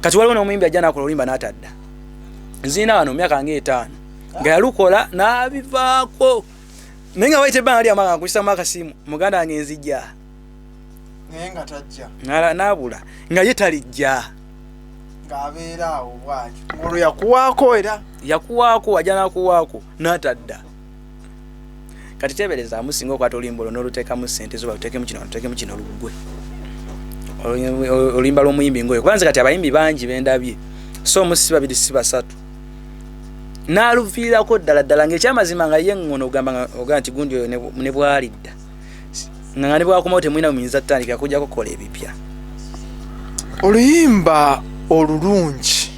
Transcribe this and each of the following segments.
kati waliwo n'omuyimbi ajja nakola olimba n'atadda nziina wano myaka nga etaano nga yalukola n'abivaako naye nga wayita ebbanga lyama nga nkukisamu akasimu muganda wange nzija naye nga tajja Nala- n'abula nga ye talijja ng'abeera awo bwatyo olwo yakuwaako era yakuwaako ajja nakuwaako n'atadda kati tebereza amusinga okwata olimbo luno olutekamu sente zo balutekemu kino balutekemu kino lugwe olimba lwomuyimbi ngoyo kubanze kati abayimbi bangi bendabye so omu si babiri si basatu naluviirako ddala ddala ngaekyamazima nga ye ngono ogamba nti gundi oyo ne bwalidda nga ne bwakomawo temulina muyinza tutandikira kujja kukola ebipya oluyimba olulungi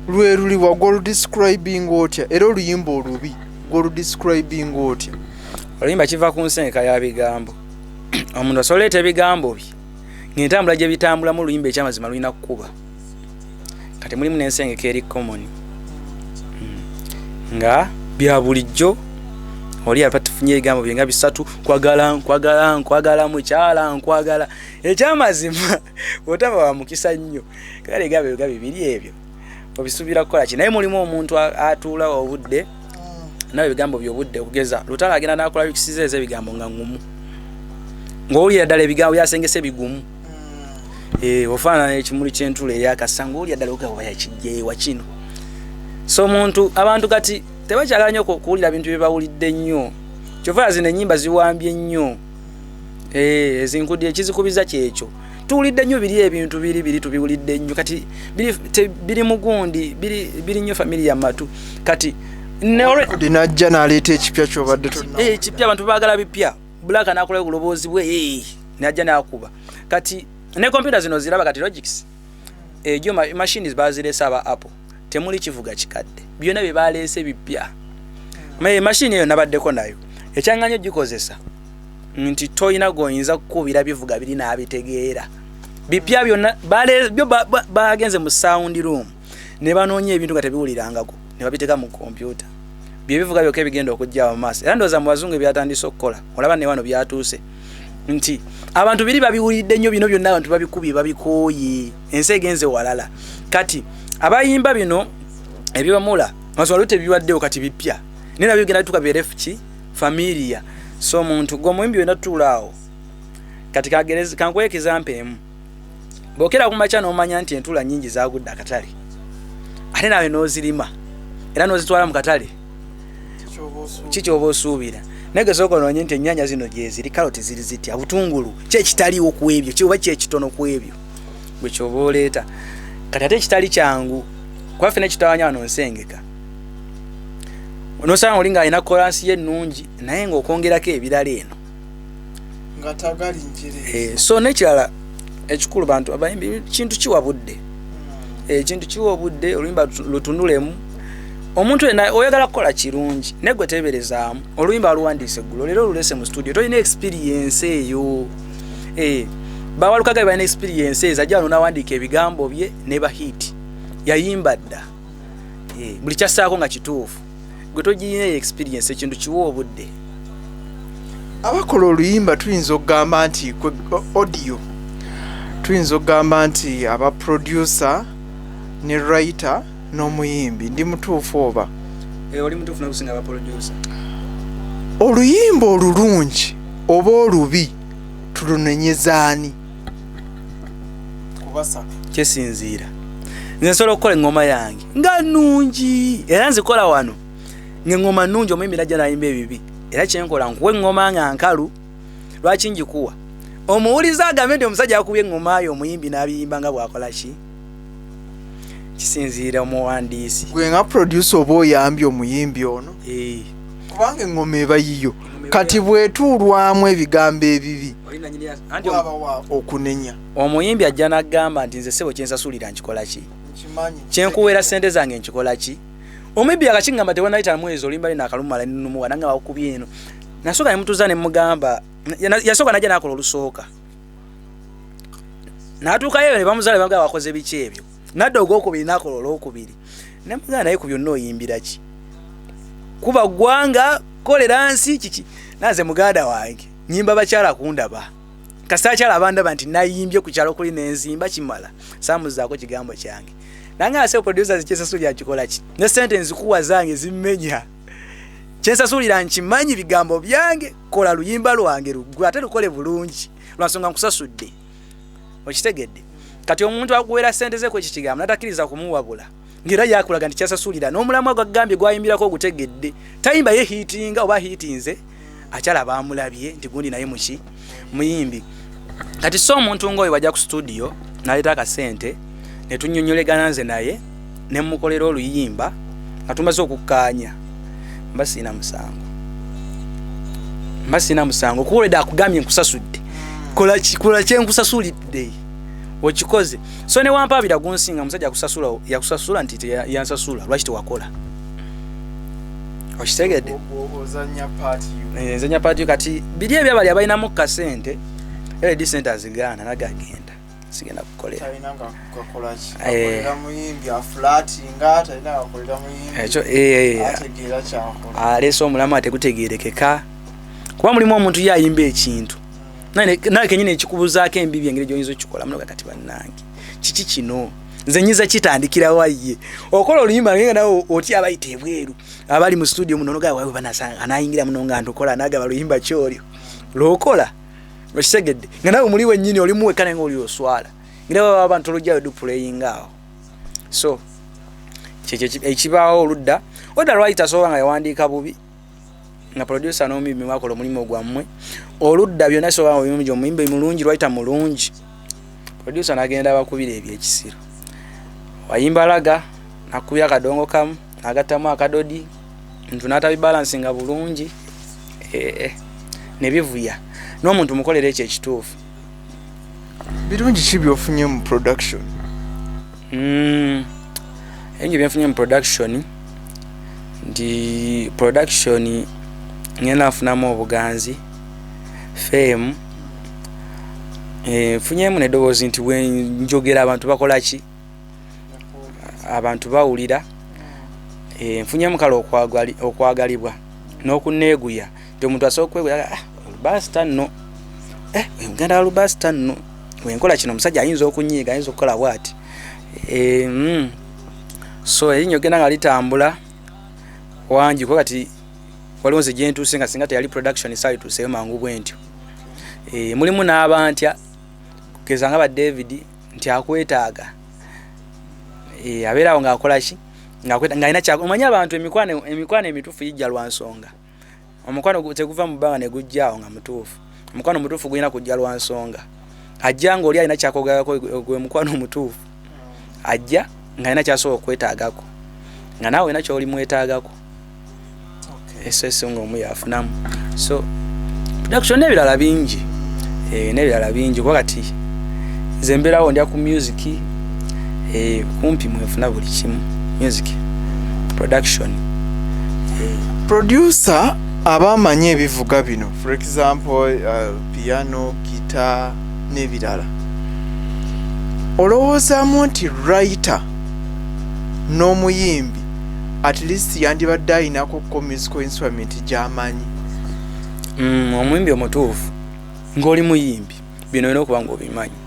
lwe luli wagwa oludiscribing otya era oluyimba olubi gwoludiscribing otya oluyimba kiva ku nsenka ya bigambo omuntu asobola eta ebigambo bye ngentambula gye bitambulamu oluyimba ekyamazima lulina kukuba kati mulimu nensengeka eri common hmm. nga bya bulijjo oli aba tufunye ebigambo byenga bisatu nkwagala nkwagala nkwagala mukyala nkwagala ekyamazima otaba wa mukisa nnyo kale egambo ebigambo bibiri ebyo obisuubira kukola ki naye mulimu omuntu atuula obudde hmm. nawe ebigambo byobudde okugeza lutala agenda nakola bikisiza ezo ebigambo nga ngumu ngaowulira ddala ebigambo byasengesa ebigumu Eh, ofaanana ekimuli kyentula eyakasa ngaolya ddala ogawayakijeewa kino so omuntu abantu kati tebakyagala nyo kuwulira bintu byebawulidde nnyo kyova zino enyimba ziwambye nnyo eh, ezinkudi ekizikubiza kyekyo tuwulidde nnyo biri ebintu biri biri tubiwulidde nnyo kati biri mugundi biri nnyo famili ya matu kati najja naleeta ekipya kyobadde ekipya eh, abantu bagala bipya black anakola obulobozi bwe eh, naja nakuba kati ne computer zino ziraba kati logics ejo eh, ma machines baziresa ba apple temuli kivuga kikadde byona bye balese bipya me machine yo nabadde ko nayo ekyanganyo gikozesa nti toyina goyinza kukubira bivuga biri nabitegeera bipya byona bale byo bagenze ba, ba, mu sound room ne banoonya ebintu nga tebiwulirangako ne babiteeka mu kompyuta bye bivuga byokka ebigenda okujja mu maaso era ndowooza mu bazungu ebyatandise okukola olaba ne wano byatuuse nti abantu biri babiwulidde nnyo bino byonna abantu babikubye babikooye ensi egenze walala kati abayimba bino ebyomula mazima lute biwaddewo kati bipya naye nabyo bigenda bituka birefu ki familia so omuntu gwe omuyimbi wenatuulaawo kati kagerezi kankuwa ekizampa emu bwokera ku makya n'omanya nti entula nyingi zagudde akatale ate nawe n'ozirima era n'ozitwala mu katale kikyoba osuubira naye gesooka onoonye nti ennyanya zino gyeziri kaloti ziri zitya butungulu kyekitaliwo ku ebyo kyoba kyekitono ku ebyo gwe kyoba oleeta kati ate ekitali kyangu kuba fena ekitawanya wano nsengeka nosanga oli ng'alina kolansi ye ennungi naye ng'okwongerako ebirala eno eh, so nekirala ekikulu bantu abayimbi kintu kiwa budde hmm. eh, ekintu kiwa obudde oluyimba lutunulemu omuntu yena oyagala kukola kirungi naye gwe teberezaamu oluyimba aluwandiise eggulo leero olulese mu studio tolina experience eyo eh, bawalukaga balina experience ezo ajja wano nawandiika ebigambo bye ne bahiti yayimba dda buli kyassaako nga kituufu gwe togirina eyo experience ekintu kiwa obudde abakola oluyimba tuyinza okugamba nti audio tuyinza okugamba nti aba producer ne writer n'omuyimbi ndi mutuufu oba eh, oli mutuufu nakusinga aba producer oluyimba olulungi oba olubi tulunenyeza ani kyesinziira nze nsobola okukola eŋŋoma yange nga nnungi era nzikola wano ng'eŋŋoma nnungi omuyimbi najja nayimba ebibi era kyenkola nkuwa eŋŋoma nga nkalu lwaki ngikuwa omuwuliza agambe nti omusajja akubye eŋŋoma yo omuyimbi n'abiyimba nga bwakola ki kisinziira omuwandiisi gwe nga producer oba oyambye omuyimbi ono Eh, kubanga eŋŋoma eba yiyo kati bwetuulwamu ebigambo ebibi okunenya omuyimbi ajja nagamba nti nze sebo kyensasulira nkikola ki kyenkuweera sente zange nkikola ki omuyimbi akakigamba tewanayita mwezi olimba lina akalumala nenumuwa nange bakubye eno nasooka nemutuza nemugamba yasooka najja nakola olusooka natuukayo nebamuzala banga wakoze biki ebyo nadda ogwokubiri nakola olwokubiri nemugamba naye ku byonna oyimbira ki kuba ggwanga kolera nsi kiki nanze muganda wange nyimba bakyala kundaba kasita akyala abandaba nti nayimbye ku kyalo kuli nenzimba kimala samuzaako kigambo kyange nange ase producer zikyesasulira nkikola ki ne sente nzikuwa zange zimmenya kyensasulira nkimanyi bigambo byange kola luyimba lwange luggwe ate lukole bulungi lwansonga nkusasudde okitegedde kati omuntu akuwera sente ze kwekikigambo natakiriza kumuwabula ngera yakulaga nti kyasasulira n'omulamwa gwagambye gwayimbirako ogutegedde tayimba ye hiitinga oba hiitinze akyala baamulabye nti gundi naye muki muyimbi kati so omuntu ngaoyo bajja ku situdiyo naleeta akasente netunyonyolegana nze naye nemukolera oluyimba nga tumaze okukkaanya mba siina musango mba siina musango kuwolede akugambye nkusasudde kola kyenkusasulidde okikoze so newampaabira gunsinga musajja akusasula yakusasula nti yansasula lwaki tewakola okitegedde nzanya paati kati biri ebyo abali abalinamu kasente led sente azigaana naga agenda sigenda kukoleraaleese omulamu ategutegerekeka kuba mulimu omuntu ye ayimba ekintu nawe kenyini ekikubuzaako embibi engeri gyoyinza okukikola munoga kati bannange kiki kino nze nyinza kitandikira waye okola oluyimba nge nawe oti abayita ebweru abali mu studio muno nogaa wawe banasanga anayingira muno nga ntukola nagaba luyimba kyolyo lwokola okitegedde nga nawe muli wenyini oli muweka naye nga oli oswala ngira baba abantu olugyayo dupuleyinga awo so kyekyo ekibaawo oludda oda lwaki tasobola nga yawandiika bubi nga producer n'omuyimbi mwakola omulimu gwammwe oludda byonna soba omuyimbi omuyimbi mulungi lwayita mulungi producer nagenda bakubira ebyekisiro wayimba laga nakubya akadongo kamu nagattamu akadodi ntu natabibalansi nga bulungi eh, eh, nebivuya n'omuntu mukolera ekyo ekituufu birungi ki byofunye mu production mm, ebingi byenfunye mu production nti production ngenda nfunamu obuganzi fame eh, funyemu nedoboozi nti wenjogera abantu bakola ki abantu bawulira eh, nfunyemu kale okwagalibwa n'okuneeguya nti omuntu asobola okwewera ah, olubasita nno eh, ogenda walubasita nno wenkola kino omusajja ayinza okunyiiga ayinza okukola bwati eh, mm. so erinya ogenda nga litambula wangi kuba kati waliwo nze gyentuuse nga singa teyali production esaali tuuseyo mangu bwe ntyo eh, mulimu n'abantya kugeza nga ba david nti akwetaaga abeerawo ng'akola ki ng'alina kyaomanyi abantu emikwano emituufu gijja lwa nsonga omukwano teguva mu bbanga ne gujjaawo nga mutuufu omukwano omutuufu gulina kujja lwa nsonga ajja ng'oli alina kyakogerako gwe mukwano omutuufu ajja ng'alina kyasobola okwetaagako nga naawe olina kyoli mwetaagako esese ngaomu yafunamu so production n'ebirala bingi eh, n'ebirala bingi kuba kati nze mbeerawo ndya ku musiki eh, kumpi mwefuna buli kimu music production eh. producer abamanyi ebivuga bino for example uh, piano gita n'ebirala olowoozamu nti writer n'omuyimbi at least yandibadde ayinako ko musical instrument gyamanyi mm, omuyimbi omutuufu ng'oli muyimbi bino olina okuba nga obimanyi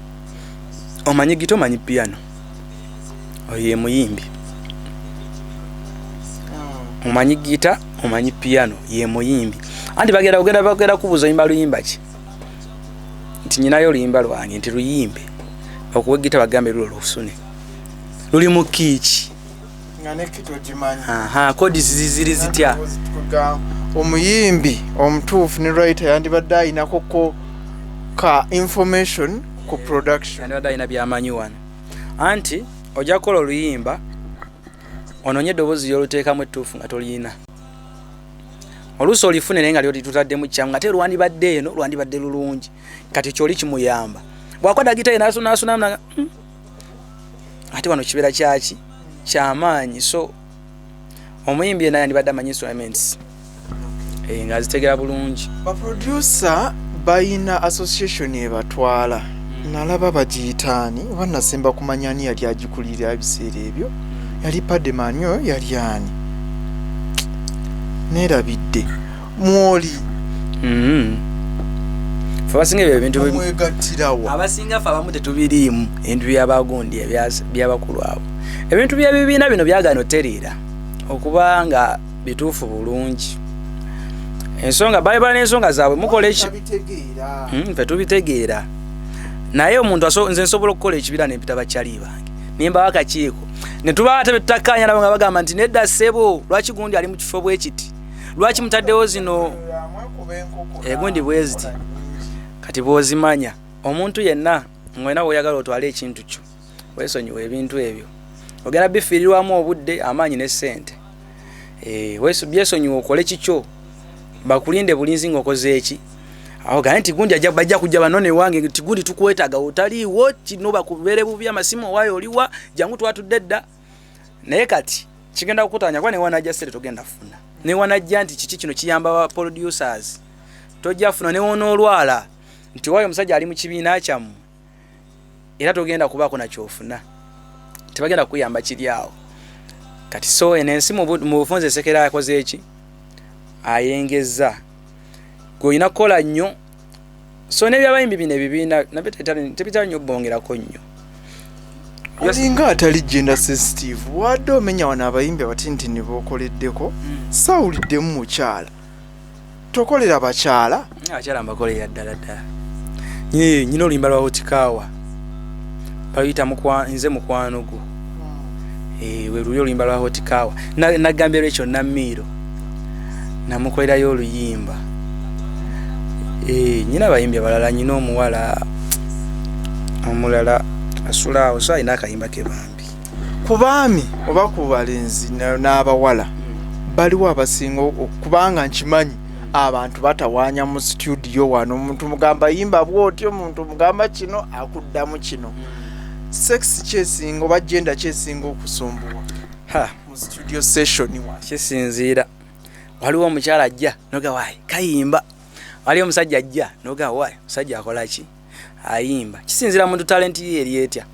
omanyi gita omanyi piano oyo ye muyimbi ah. omanyi gita omanyi piano ye muyimbi anti bagenda kugenda bagenda kubuuza oyimba luyimba ki nti nyinayo oluyimba lwange nti luyimbe okuwa egita bagambe lulo lusune luli mu kiiki kodi ziziri zitya omuyimbi omutuufu ne rayita yandibadde ayinako ko ka information ku production yandibadde ayina byamanyi wano anti ojja kukola oluyimba ononye eddoboozi lyoluteekamu ettuufu nga toliyina oluusi olifune naye nga lyolitutaddemu kyamu nga te lwandibadde eno lwandibadde lulungi kati kyoli kimuyamba bwakwada gitaye nasunasunamu hmm? ate wano kibeera kyaki kyamaanyi so omuyimbi yena yandibadde amanyi instruments eh, nga azitegera bulungi baproducer bayina association ebatwala hmm. nalaba bagiyitaani oba nasemba kumanya ani yali agikulirira ebiseera ebyo yali pademani oyo yali ani neerabidde mwoli Mm. Ffe abasinga ebyo ebintu bi- mwegattirawa abasinga ffe abamu tetubiriimu ebintu byabagundi ebya- byabakulu abo ebintu byebibiina bino byagaana otereera okuba nga bituufu bulungi ensonga bayibala n'ensonga zaabwe mukola eki Tabitegeera. Mm, ffe tubitegeera naye omuntu aso- nze nsobola okukola ekibira nempita bakyali bange nembawo akakiiko netuba ate betutakkaanya nabo nga bagamba nti nedda ssebo lwaki gundi ali mu kifo bwekiti lwaki mutaddewo zino egundi bweziti kati bwozimanya omuntu yenna ngolina woyagala otwale ekintu kyo wesonyiwa ebintu ebyo ogenda bifiirirwamu obudde amaanyi ne ssente eh, byesonyiwa okole kikyo bakulinde bulinzi ngaokoze eki aogane nti gundi bajja kujja bano newange nti gundi tukwetaga otaliiwo kino bakubeere bubi amasimu owayo oliwa jangu twatudde dda naye kati kigenda kukutanya kuba newanajja sente togenda funa newanajja nti kiki kino kiyamba ba producers tojja funa newonaolwala nti wayo omusajja ali mu kibiina kyamu era togenda kubaako nakyofuna tebagenda kukuyamba kiri awo kati so eno ensi mu bufunza esekera akoze eki ayengeza gweolina kukola nnyo so nebyabayimbi bino ebibiina nabyo tebitera nyo bongerako nnyo olinga atali genda sensitive wadde omenya wano abayimbi abatintini bokoleddeko hmm. sawuliddemu mukyala tokolera bakyala akyala mbakolera ddala ddala nyina oluyimba lwawo kikaawa bayita mukwa nze mukwano gwo eh, we luli oluyimba lwa hotikawa nagambye lwekyo namiiro namukolerayo oluyimba eh, nyina abayimbi abalala nyina omuwala omulala asula awo so alina akayimba ke bambi ku baami oba ku balenzi n'abawala baliwo abasinga kubanga nkimanyi abantu batawaanya mu situdiyo wano omuntu mugamba yimba bwotyo omuntu mugamba kino akuddamu kino sex kyesinga oba genda kyesinga okusumbuwa mu situdiyo session wa kisinziira waliwo omukyala ajja nogawaayi kayimba waliwo omusajja ajja nogawaayi omusajja akola ki ayimba kisinziira muntu talenti ye eri etya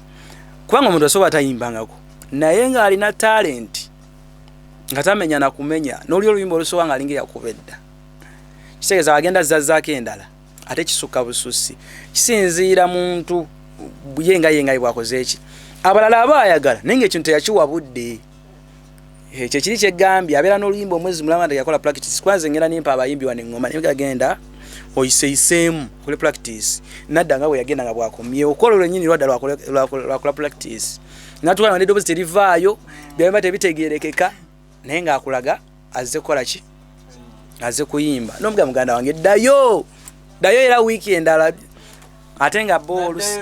kubanga omuntu asobola tayimbangako naye ng'alina talenti nga tamenya na kumenya n'oli oluyimba olusoba nga alinga eyakuba edda kitegeeza agenda zazzaako endala ate kisukka bususi kisinziira muntu ye nga ye nga bwakoze eki abalala aba ayagala naye ngaekintu teyakiwa budde eh, kyekiri kyegambye abeera n'oluyimba omwezi mulama nti yakola practice kwanze ngenda nimpa abayimbi wano eŋŋoma naye gagenda oyiseyiseemu okole practice nadda nga bwe yagenda nga bwakomyewo okola olwenyini lwadda lwakola practice natugamba nti eddoboozi terivaayo byaba tebitegeerekeka naye ng'akulaga azze kukola ki azze kuyimba nomuga muganda wange ddayo ddayo era wiiki endala ate nga bo olusi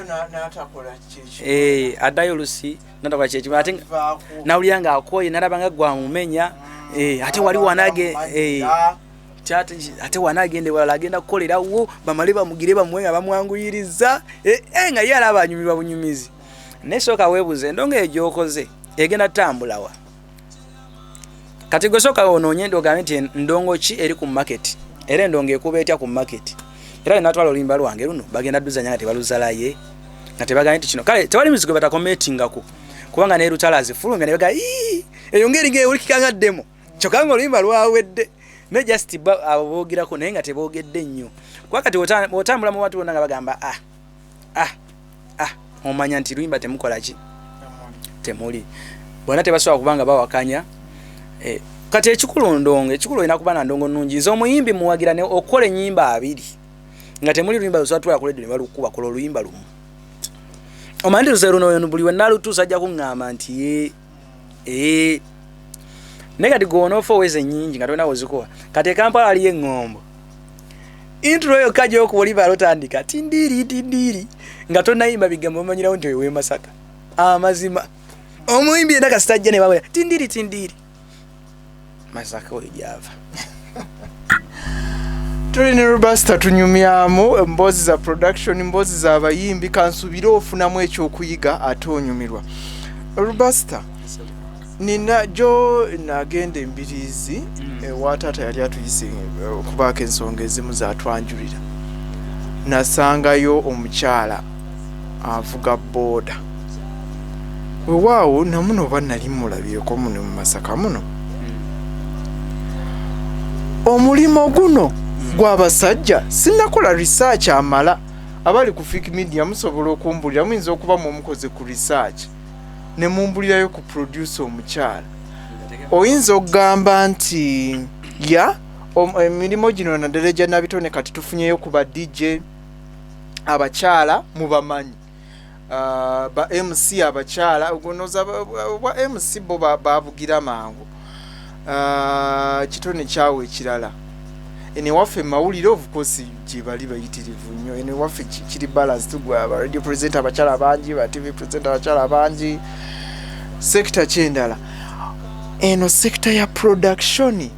eh, addayo olusi natakola kyekimu ate nawulira ng'akooye nalaba nga gwamumenya eh, ate wali wanage eh, ate wana agenda ewalala agenda kukolerawo bamale bamugire bamuwe nga bamwanguyiriza nga ye alaba anyumirwa bunyumizi naye sooka weebuuza endongo eyo gyokoze egenda tambulawa kati gwe sooka onoonye ogambe nti ndongo ki eri ku maketi era endongo ekuba etya ku maketi era linatwala oluyimba lwange luno bagenda duzanya nga tebaluzalaye nga tebagambye nti kino kale tewali mizigo batakometingako kubanga ne lutala azifulumya ne bagamba ii eyo ngeri nga ewulikika nga ddemu kyokka nga oluyimba lwawedde naye just abo boogerako naye nga teboogedde nnyo kuba kati otambula mu bantu bonna nga bagamba ah ah ah omanya nti luyimba temukola ki temuli bona tebasobola kuba nga bawakanya eh, kati ekikulu ndongo ekikulu olina kuba na ndongo nungi nze omuyimbi muwagira ne okukola enyimba abiri nga temuli luyimba luzatula kuledio ne balukuba kola oluyimba lumu omanyi nti luze luno buli wenalutuusa ajja kuŋŋamba nti eh naye kati gwe onoofa oweza ennyingi nga tolina wozikuwa kati ekampala aliyo eŋŋombo intro yokka gyokuba oli baala otandika tindiiri tindiiri nga tonayimba bigambo omanyirawo nti oyo wemasaka amazima omuyimbi yena kasitajja nebawera tindiiri tindiiri masaka oyo gyava tuli ne robasta tunyumyamu emboozi za production emboozi za bayimbi kansubire ofunamu ekyokuyiga ate onyumirwa robasta nina gyo nagenda embiriizi mm. ewa taata yali atuyise eh, okubaako ensonga ezimu zatwanjulira nasangayo omukyala avuga booda wewaawo namuno oba nali mulabyeko muno mu masaka muno omulimu guno gwabasajja sinakola research amala abali ku fik media musobola okumbulira muyinza okuba mumukoze ku research ne mumbulirayo ku producer omukyala oyinza okugamba nti ya emirimu gino naddala egya nabitone kati tufunyeyo ku ba dj abakyala mubamanyi uh, ba mc abakyala gonoza obwa mc bo babugira mangu uh, kitone kyawo ekirala eno ewaffe mumawulire ofukosi gyebali bayitirivu nnyo eno ewaffe kiri balance tugwe aba radio present abakyala bangi ba tv present abakyala bangi sekita kyendala eno sekita ya productioni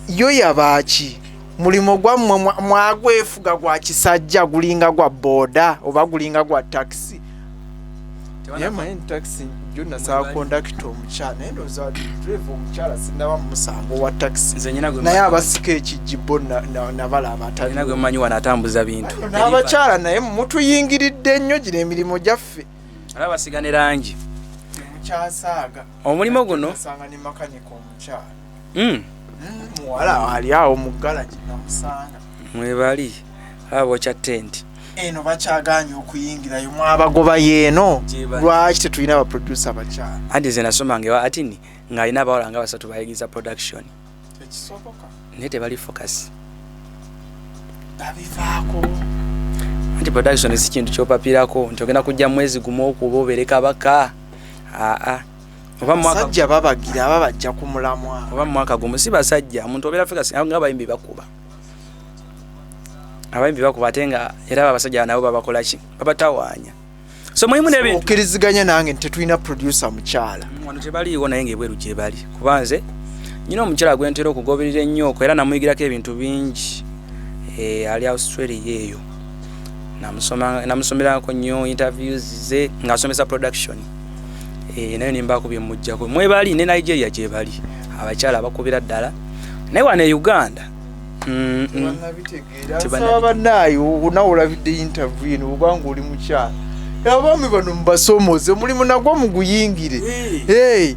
yo yabaaki mulimu gwammwe mwagwefuga gwa kisajja gulinga gwa boda oba gulinga gwa takisi takisi jo nasaba kondakita omukyala naye ndooza drive omukyala sinaba mumusango wa takisi naye abasika ekijibbo nabalaabaatagwemanyi wano atambuza bintu n'abakyala naye mutuyingiridde nnyo gino emirimu gyaffe alabasiga ne langi omulimu guno hmm. muwala ali awo mu galagi namusanga mwebali aba bokya tenti eno bakyaganye okuyingirayo mwabagoba yeeno lwaki tetulina abaproducer bakyala anti ze nasomanga ewa atini ng'alina abawala nga basatu bayigiriza production ekisoboka naye tebali focus babivaako nti production si kintu kyopapirako nti ogenda kujja mwezi gumu okuba obeere kabaka aa ah, ah. basajja babagira babajja ku mulamwa oba mu mwaka gumu si basajja omuntu obeera fika nga abayimbi bakuba abayimbi bakuba ate nga era babasajja nabo babakola ki babatawaanya so mulimu nebintu okkiriziganya nange nti tetulina producer mukyala mm, wano tebaliiwo naye nga ebweru gyebali kuba nze nyina omukyala gwentera okugoberera ennyooko era namuyigirako ebintu bingi eh, ali australia eyo namusomerako nnyo interviews ze ngaasomesa production eh, nayo nembaako byemujjako mwebali ne nigeria gyebali abakyala abakubira ddala naye wana e uganda mm, mm. tebanabitegeerabanaayo nawe olabidde interview eno obanga oli mukyala abaami bano mubasomooze omulimu nagwo muguyingire eh.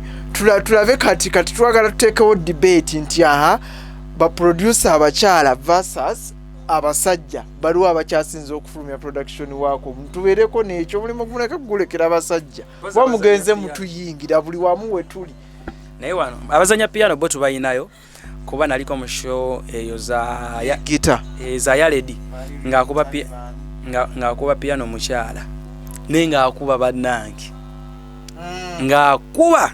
tulabe kati kati twagala tuteekewo debate nti aha baproducer abakyala versus abasajja baliwo abakyasinza okufulumya production waako tubeereko nekyo omulimu gumuleke kugulekera abasajja kuba mugenze mutuyingira buli wamu wetuli naye wano abazanya piano bo tubalinayo kuba naliko mu show eyo zagita eh, za yaledi ngaakuba piano mukyala naye ngaakuba bannange mm. ngaakuba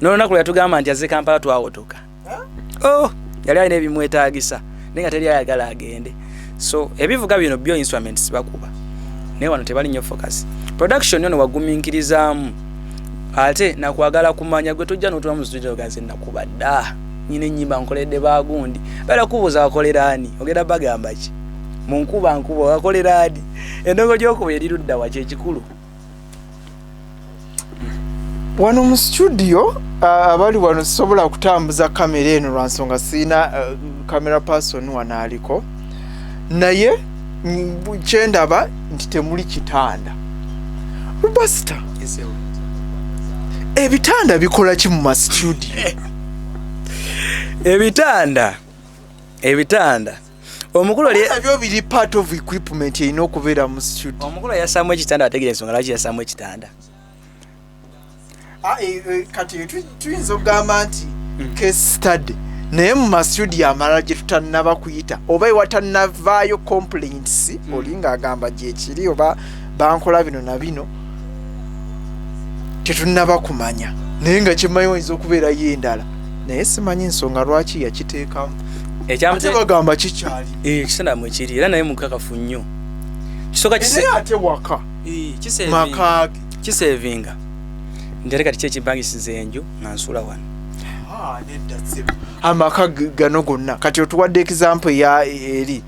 nolunaku lweyatugamba nti aze kampala twawotoka oh yali alina ebimwetagisa naye nga teri ayagala agende so ebivuga bino byo instruments bakuba naye wano tebali nyo focus production yono waguminkirizaamu ate nakwagala kumanya gwe tojja notula mu studio gaze nakuba da nyina enyimba nkoledde bagundi bala kubuza akolera ani ogenda bagamba ki munkuba nkuba akolera ani endongo gyokuba erirudda wa kyekikulu wano mu studio abali wano sisobola kutambuza kamera eno lwa nsonga sirina kamera person wano aliko naye kyendaba nti temuli kitanda rubasita ebitanda bikola ki mu mastudio ebitanda ebitanda omukulu ebyo biri part of equipment erina okubeera mu studio omukulu yasaamu ekitanda ategera ensonga lwaki yasaamu ekitanda ah, eh, eh, kati tuyinza okugamba nti hmm. case study naye mu masudio amalala gye tutannaba kuyita oba ewatannavaayo complaints hmm. olinga agamba gyekiri oba bankola bino na bino tetunaba kumanya naye nga kyemanyi oyinza okubeerayo endala naye simanyi nsonga lwaki yakiteekamu ekyabagamba kikyali eh, ekisana mwekiri era naye mukakafu nnyo kisoka ate waka eh, makaage kisevinga nti ate kati kyekibangisiza enju nga nsula wano ah, amaka gano gonna kati otuwadde ekizampo eya eri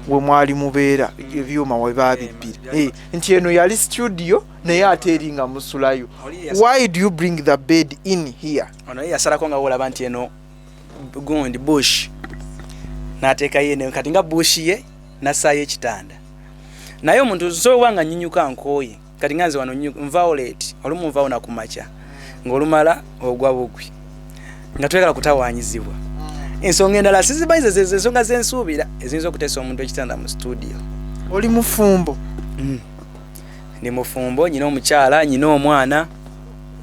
wemwali mubeera ebyuma webabibbira eh, nti eno yali studio naye ate eri nga musulayo why do you bring the bed in here onaye yasalako nga wolaba nti eno gundi bush natekayo eno kati nga bush ye nasayo ekitanda naye omuntu nsobola nga nyinyuka nkooye kati nga nze wano nvawo leti olumu nvawo nakumakya ng'olumala ogwa bugwi nga twegala kutawanyizibwa ensonga endala sizimanyi zezezo ensonga zensuubira eziyinza okuteesa omuntu ekitanda mu situdio oli mufumbo mm. ndi mufumbo nyina omukyala nyina omwana